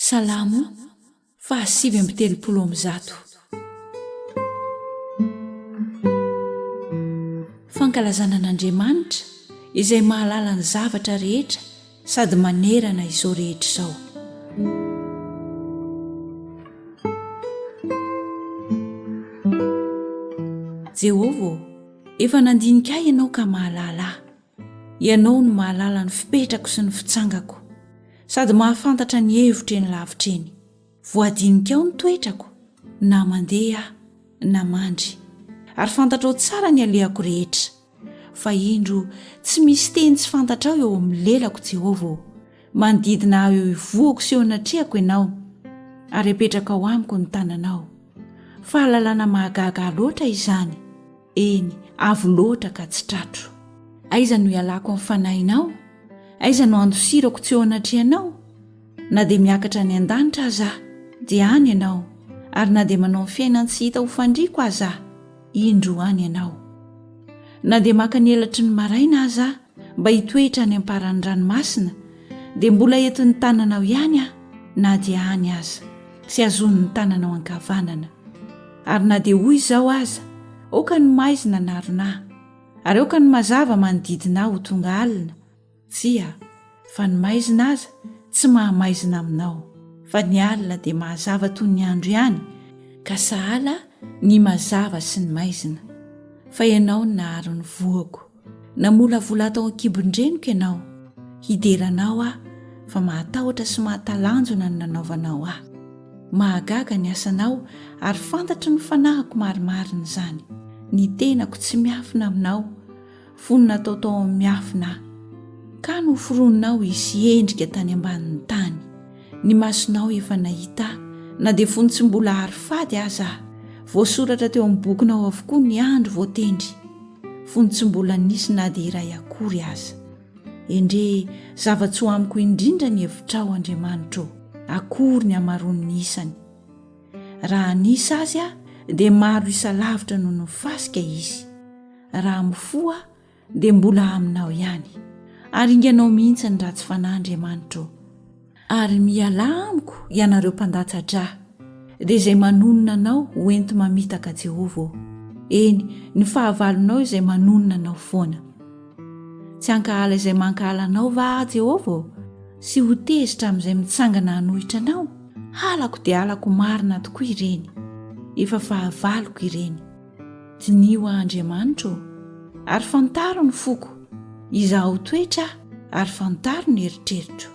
Salamo fahasivy amby telopolo amby zato. Fankalazana an'Andriamanitra izay mahalala ny zavatra rehetra sady manerana izao rehetra izao. Jehovah ô, efa nandinika ahy ianao ka mahalala ahy. Ianao no mahalala ny fipetrako sy ny fitsangako, sady mahafantatra ny hevitro eny lavitra eny. Voadininkao ny toetrako, na mandeha aho, na mandry, ary fantatrao tsara ny alehako rehetra. Fa indro, tsy misy teny tsy fantatrao eo amin'ny lelako, Jehovah ô! Manodidina ahy eo ivohoko sy eo anatrehako ianao, ary apetrakao amiko ny tananao. Fahalalana mahagaga ahy loatra izany! Eny, avo loatra ka tsy tratro. Aiza no ialako amin'ny fanahinao? Aiza no andosirako tsy eo anatrehanao? Na dia miakatra any an-danitra aza aho, dia any ianao, ary na dia manao ny fiainany tsy hita ho fandriako aza aho, indro any ianao. Na dia maka ny elatry ny maraina aza aho mba hitoetra any am-paran'ny ranomasina, dia mbola entin'ny tananao ihany aho na dia any aza, sy hazonin'ny tananao ankavanana. Ary na dia ho izao aza, aoka ny maizina hanarona ahy, ary aoka ny mazava manodidina ahy ho tonga alina, tsia, fa ny maizina aza tsy maha-maizina aminao, fa ny alina dia mahazava toy ny andro ihany, ka sahala ny mazava sy ny maizina, fa ianao no naharo ny voako. Namolavola ato an-kibon-dreniko ianao, hidera anao aho, fa mahatahotra sy mahatalanjona ny nanaovanao ahy. Mahagaga ny asanao, ary fantatry ny fanahiko marimarina izany. Ny tenako tsy miafina aminao, fony natao tao amin'ny miafina aho. Ka noforoninao hisy endrika tany ambanin'ny tany. Ny masonao efa nahita ahy, na dia fony tsy mbola hary fady aza aho. Voasoratra teo amin'ny bokinao avokoa ny andro voatendry. fony tsy mbola nisy na dia iray akory aza. Endrey zava-tsoa amiko indrindra ny hevitrao, Andriamanitra ô! Akory ny hamaroan'ny isany! Raha hanisa azy aho, dia maro isa lavitra noho ny fasika izy. Raha mifoha aho, dia mbola aminao ihany. Aringanao mihitsy ny ratsy fanahy, Andriamanitra ô! Ary mialà amiko ianareo mpandatsa-dra, dia izay manonona anao ho enti-mamitaka Jehovah ô, eny, ny fahavalonao izay manonona anao foana. Tsy hankahala izay mankahala anao va aho, Jehovah ô, sy ho tezitra amin'izay mitsangana hanohitra anao? Halako dia halako marina tokoa ireny, efa fahavaloko ireny. Diniho aho, Andriamanitra ô, ary fantaro ny foko, izaho toetra ary fantaro ny eritreritro.